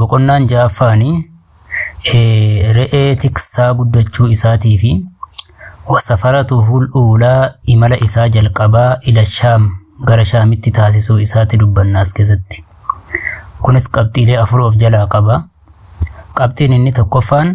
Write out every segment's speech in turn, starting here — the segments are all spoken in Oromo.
Boqonnaan ja'affaan re'ee tiksaa guddachuu isaatii fi wasafaratu hul'uulaa imala isaa jalqabaa ila shaam gara shaamitti taasisuu isaatti dubbanna as keessatti. Kunis qabxiilee afur of jalaa qaba. Qabxiin inni tokkoffaan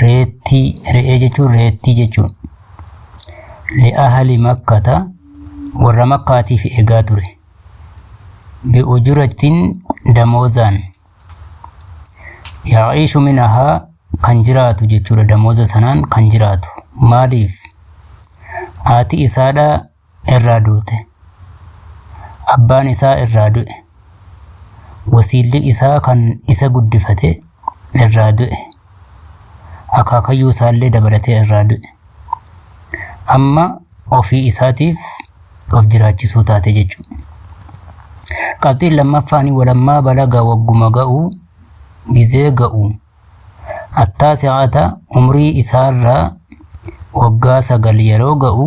Reettii, re'ee jechuun reettii jechuun. Li'ahali makkata warra makkaatiif eegaa ture. Bi'ujurattiin damoozaan. Yaa'ishu minahaa kan jiraatu jechuudha damooza sanaan kan jiraatu. Maaliif? Haati isaadhaa irraa duute. Abbaan isaa irraa du'e. Wasiilli isaa kan isa guddifate irraa du'e. Akaakayyuu isaallee dabalatee irraa du'e. Amma ofii isaatiif of jiraachisuu taate jechuudha. Qabxiin lammaffaan walammaa balaga wagguma ga'u gizee ga'u attaasi'ata umrii isaarraa waggaa sagal yeroo ga'u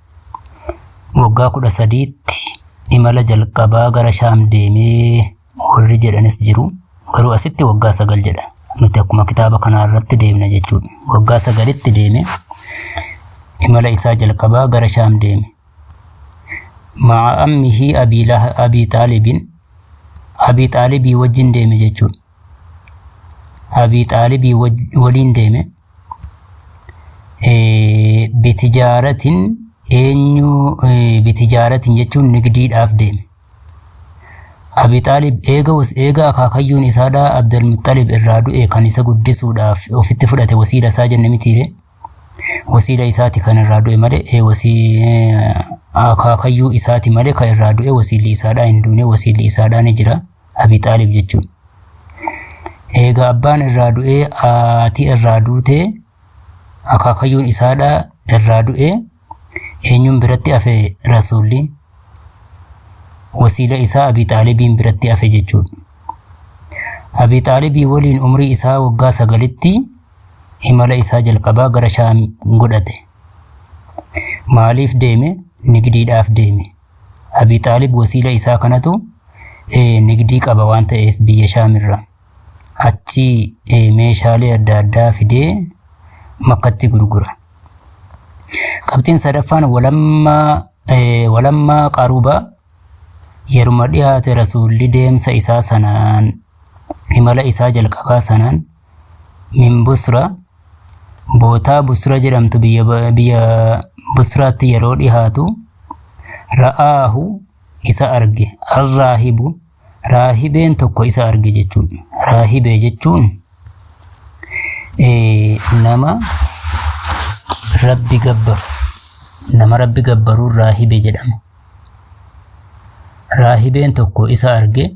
waggaa kudha sadiitti imala jalqabaa gara shaam deemee warri jedhanis jiru garuu asitti waggaa sagal jedha nuti akkuma kitaaba kanaa irratti deemna jechuudha waggaa sagalitti deeme imala isaa jalqabaa gara shaam deeme ma'a ammihii abii Laha- abii xaalibiin abii xaalibii wajjin deeme jechuudha Abii Xaalibii waliin deeme. Bitijaaratin eenyu bitijaaratin jechuun nigdiidhaaf deeme. Abii Xaalib eega eega akaakayyuun isaadhaa Abdulmuxxalib irraa du'e kan isa guddisuudhaaf ofitti fudhate wasiila isaa jenne mitiire. Wasiila isaati kan irraa du'e malee wasii akaakayyuu isaati malee kan irraa du'e wasiilli isaadhaa hin duune wasiilli isaadhaa ni jira. Abi Xaalib jechuun. Eega abbaan irraa du'ee haati irraa duute akaakayyuun isaadha irraa du'e eenyuun biratti hafe rasuulli wasiila isaa Abi Xaalibiin biratti hafe jechuudha. Abi Xaalibii waliin umrii isaa waggaa sagalitti imala isaa jalqabaa gara Shaam godhate. Maaliif deeme? Nigdiidhaaf deeme. Abi Xaalib wasiila isaa kanatu eh, nigdii qaba waan ta'eef biyya Shaamirra. Achi eh, meeshaalee adda addaa fidee makkatti gurgura. Qabxiin sadaffaan walammaa eh, walammaa qaruba yeruma dhiyaate rasuulli deemsa isaa sanaan imala isaa jalqabaa sanaan min Busra bootaa Busra jedhamtu biyya biyya Busraatti yeroo dhihaatu ra'aahu isa arge arraahibu raahibeen tokko isa arge jechuudha. Raahibee jechuun eh, nama rabbi gabbaru nama rabbi gabbaruun raahibe jedhama. Raahibeen tokko isa arge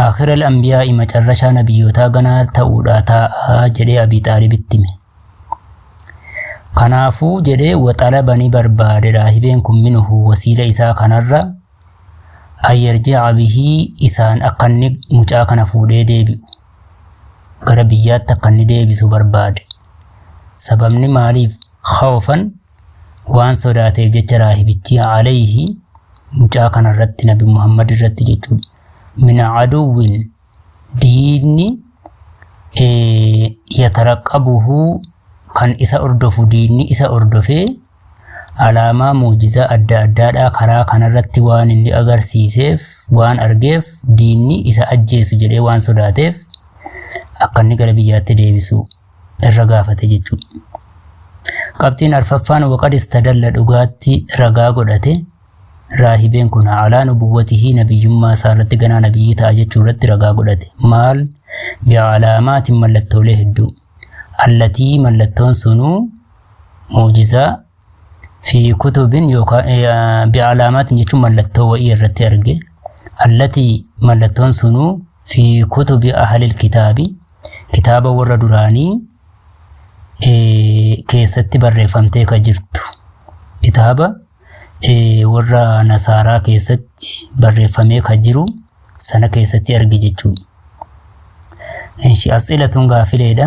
Aakhira al-Anbiyaa'i macarrashaa nabiyyootaa ganaa ta'uudha taa'a jedhee Abii Xaalib itti hime. Kanaafuu jedhee waxalaba ni barbaade raahibeen kun minuhu wasiila isaa kanarra ayyarji'a bihii isaan akka inni mucaa kana fuudhee deebi'u gara biyyaatti akka inni deebisu barbaade. Sababni maaliif khawfan Waan sodaateef jecha raahibichi alayhi mucaa kana irratti nabi Muhammad irratti jechuudha. Min aduwwin diinni eh, yataraqabuhu kan isa hordofu diinni isa hordofee alaamaa muujizaa adda addaadhaa karaa kanarratti waan inni agarsiiseef waan argeef diinni isa ajjeesu jedhee waan sodaateef akka inni gara biyyaatti deebisu irra gaafate jechuudha. Qabxiin arfaffaan waqad istadalla dhugaatti ragaa godhate raahibeen kun alaa nubuwwatihii nabiyyummaa isaa irratti ganaa nabiyyii ta'a jechuu irratti ragaa godhate. Maal bi'alaamaatiin mallattoolee hedduu. Allatii mallattoon sunuu muujizaa fi kutubin yookaan bi'alaamaatiin jechuun mallattoo wa'ii irratti arge allati mallattoon sunuu fi kutubi ahalil kitaabi kitaaba warra duraanii keessatti barreeffamtee ka jirtu kitaaba warra nasaaraa keessatti barreeffamee ka jiru sana keessatti arge jechuudha. Inshi asxilatun gaafileedha.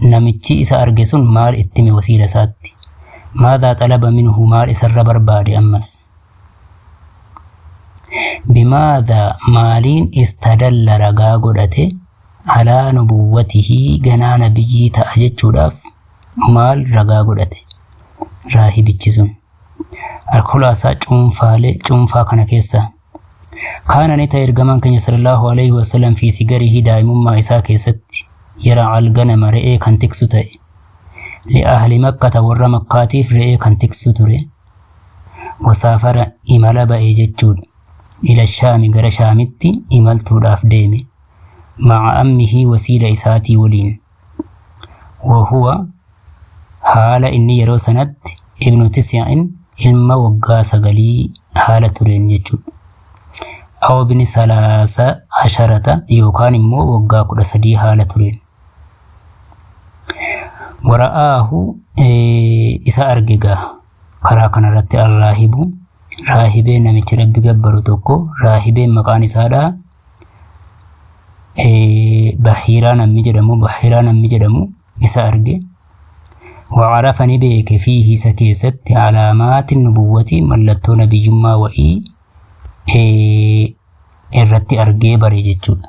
Namichi isa arge sun maal ittime wasiila isaatti? Maadhaa xalaba minhu maal isarra barbaade ammas? Bimaadhaa maaliin istadalla ragaa godhate alaa nubuwwatihii ganaa nabiyyii ta'a jechuudhaaf maal ragaa godhate? Raahibichi sun. Alkhulaasaa cuunfaalee cuunfaa kana keessaa. Kaana ni ta'e ergamaan keenya sallallahu alaihi wasallam fi sigarihi daa'imummaa isaa keessatti yara alganama re'ee kan tiksu ta'e. Li'ahli makkata warra makkaatiif re'ee kan tiksu ture. Wasaafara imala ba'e jechuudha. Ila shaami gara shaamitti imaltuudhaaf deeme. Maca ammihii wasiila isaatii waliin. wahuwa haala inni yeroo sanatti ibnu tisyaa'in ilma waggaa sagalii haala tureen jechuudha. Aw ibni salaasa asharata yookaan immoo waggaa kudha sadii haala tureen. Wara'aahu isa arge gaa karaa kanarratti arraahibu raahibee namichi rabbi gabbaru tokko raahibeen maqaan isaadhaa Eh, Bahiiraa namni jedhamu Bahiiraa namni jedhamu isa arge وعرف ni beeke fiihi isa keessatti alaamaati nubuwwati mallattoo nabiyyummaa wa'ii eh, irratti argee bare jechuudha.